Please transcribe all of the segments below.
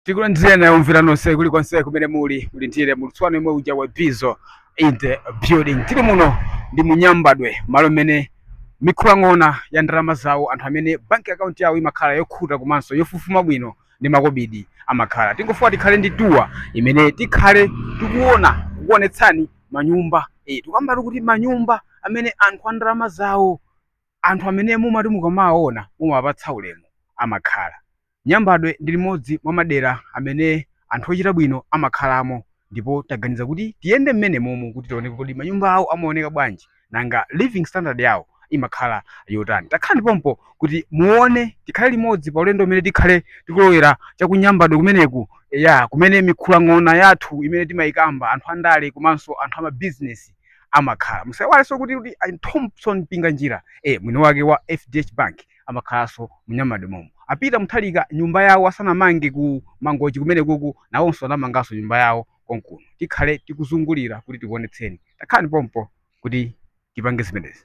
tikulandireni omvera nonse kulikonse kumene muli muli ndi ine mulutswano imwe uja wa bizo in the building tili muno ndi mu Nyambadwe malo amene mikhulang'ona ya ndalama zawo, anthu amene banki akaunti yawo imakhala yokhuta komanso yofufuma bwino ndi makobidi amakhala tingofuna tikhale ndi tour imene tikhale tikuona kukuonetsani manyumba eh, tikambatu kuti manyumba amene anthu a ndalama zawo Anthu amene mumati mukamawaona mumawapatsa ulemu amakhala. Nyambadwe ndi limodzi mwa madera amene anthu ochita bwino amakhalamo ndipo taganiza kuti tiyende mmenemomu kuti tione kodi manyumba awo amaoneka bwanji nanga living standard yawo imakhala yotani. Takhalani pompo kuti muone, tikhale limodzi pa ulendo umene tikhale tikulowera cha ku Nyambadwe kumeneku, eya kumene mikhulang'ona yathu imene timayikamba anthu andale komanso anthu amabizinesi. amakhala musaiwalenso kuti kuti a Thomson Mpinganjira eh mwini wake wa fdh bank amakhalanso mu Nyambadwe momu a Peter Mutharika nyumba yawo asanamange ku mangochi kumenekuku nawonso anamanganso nyumba yawo konkuno tikhale tikuzungulira kuti tikuonetseni takhalani pompo kuti tipange zimenezi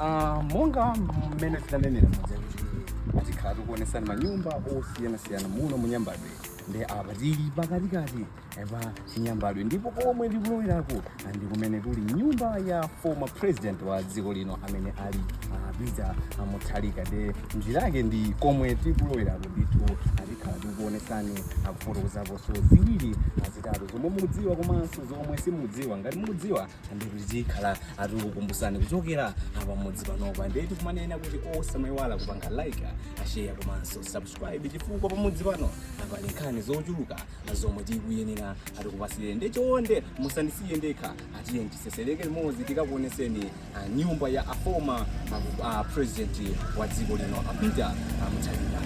Ah, monga mmene tinanenera muja kuti tikhala tikuonesani manyumba osiyanasiyana muno mu Nyambadwe nde apa tili pakatikati pa chinyambadwe ndipo komwe tikuloweraku ndi kumene kuli nyumba ya former president wa dziko lino amene ali ah, peter mutharika nde njira yake ndi komwe tikuloweraku ndithu tikhala tikuonesani kufotokozaponso ziwiri zitatu zomwe mukudziwa komanso zomwe simukudziwa ngati mukudziwa ndi kuti tikhala tikukumbusani kuchokera pamudzi panopa ndiye tikumanena kuti osamayiwala kupanga like share komanso subscribe chifukwa pamudzi pano pali nkhani zochuluka zomwe tikuyenera tikupasire ndiye chonde musandisiye ndekha tiyeni tisesereke limodzi tikakuoneseni ah, nyumba ya a former ah, president wa dziko lino a Peter Mutharika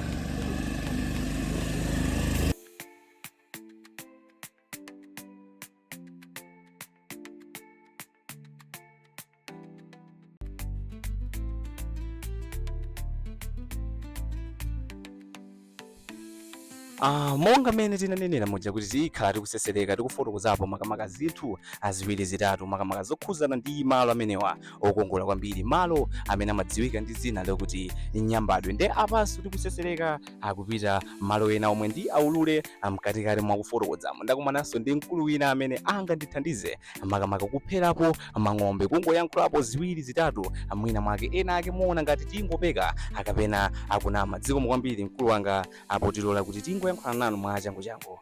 Ah, monga mmene tinanenera muja kuti tikhala tikusesereka tikufotokozapo makamaka zinthu ziwiri zitatu makamaka zokhuzana ndi malo amenewa okongola kwambiri malo amene amadziwika ndi dzina lokuti nyambadwe nde apanso tikusesereka kupita malo ena omwe ndi aulule mkatikati mwa kufotokozamo ndakumananso ndi mkulu wina amene angandithandize makamaka kupherapo mphongo kungoyankhulapo ziwiri zitatu mwina mwake ena ake aona ngati tingopeka kapena kunama zikomo kwambiri mkulu wanga potilola kuti tingoyankhulana nanu mwa changu changu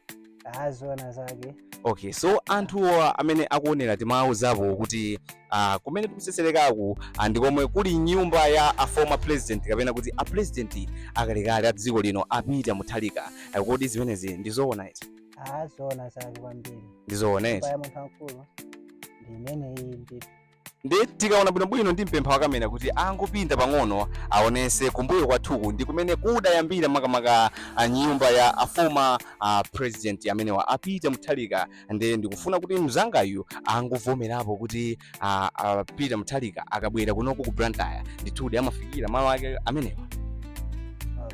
zoona zake okay so anthu amene akuonera timawauzapo kuti uh, kumene tikuseserekaku uh, ndi komwe kuli nyumba ya a former president kapena kuti a president akalekale a dziko lino a Peter Mutharika uh, kodi zimenezi ndizoona eti a zoona zake kwambiri ndizoona eti pa ya munthu wamkulu ndi imeneyi ndithu ndiye tikaona bwinobwino ndimpempha wa kamera kuti angopinda pang'ono aonese kumbuyo kwathuku ndi kumene kudayambira makamaka a nyumba ya a former a president amenewa a Peter Mutharika ndiye ndikufuna kuti mzangayu angovomerapo kuti a, a Peter Mutharika akabwera kunoko ku Blantyre ndithudi amafikira malo ake amenewa Ah,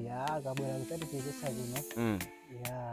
ya akabwera kudzatichezetsa kuno mm. ya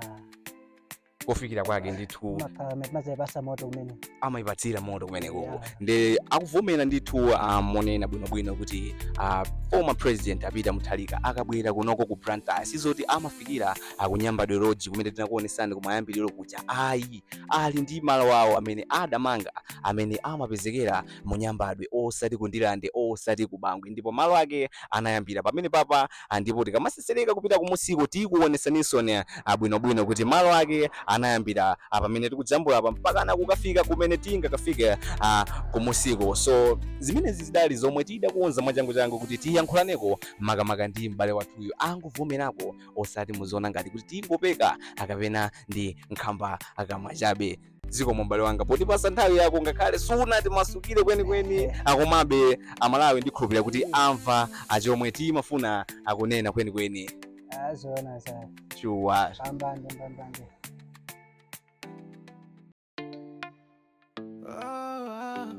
kofikira kwake ndithu makhala amene amadzayipatsa moto kumene amayipatsira moto kumenekoko Yeah. nde akuvomera ndithu a monena bwinobwino kuti ah, former president a Peter Mutharika akabwera kunoko ku Blantyre sizoti amafikira a ku Nyambadwe Lodge kumene tinakuonesani kumayambiriro kuja ayi ali ndi malo awo amene adamanga amene amapezekera mu Nyambadwe osati ku Ndirande osati ku Bangwe ndipo malo ake anayambira pamenepapa a ndipo tikamasesereka kupita kumunsiko tikuonesaninso a bwino bwino kuti malo ake anayambira a pamene tikujambula apa mpakana kukafika kumene tingakafike a kumunsiko so zimenezi zidali zomwe tidakonza mwachangu changu kuti tiyankhulaneko makamaka ndi m'bale wathuyu angovomerako osati muziona ngati kuti tingopeka a kapena ndi nkhambakamwa chabe zikomo m'bale wanga potipasa nthawi yako ngakhale sunatimasukire kwenikweni a komabe a Malawi ndikhulupirira kuti amva a chomwe timafuna a kunena kwenikweni Ah, zoona zake shuwa mbambande mbambande Ah,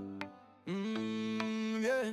mm, yeah.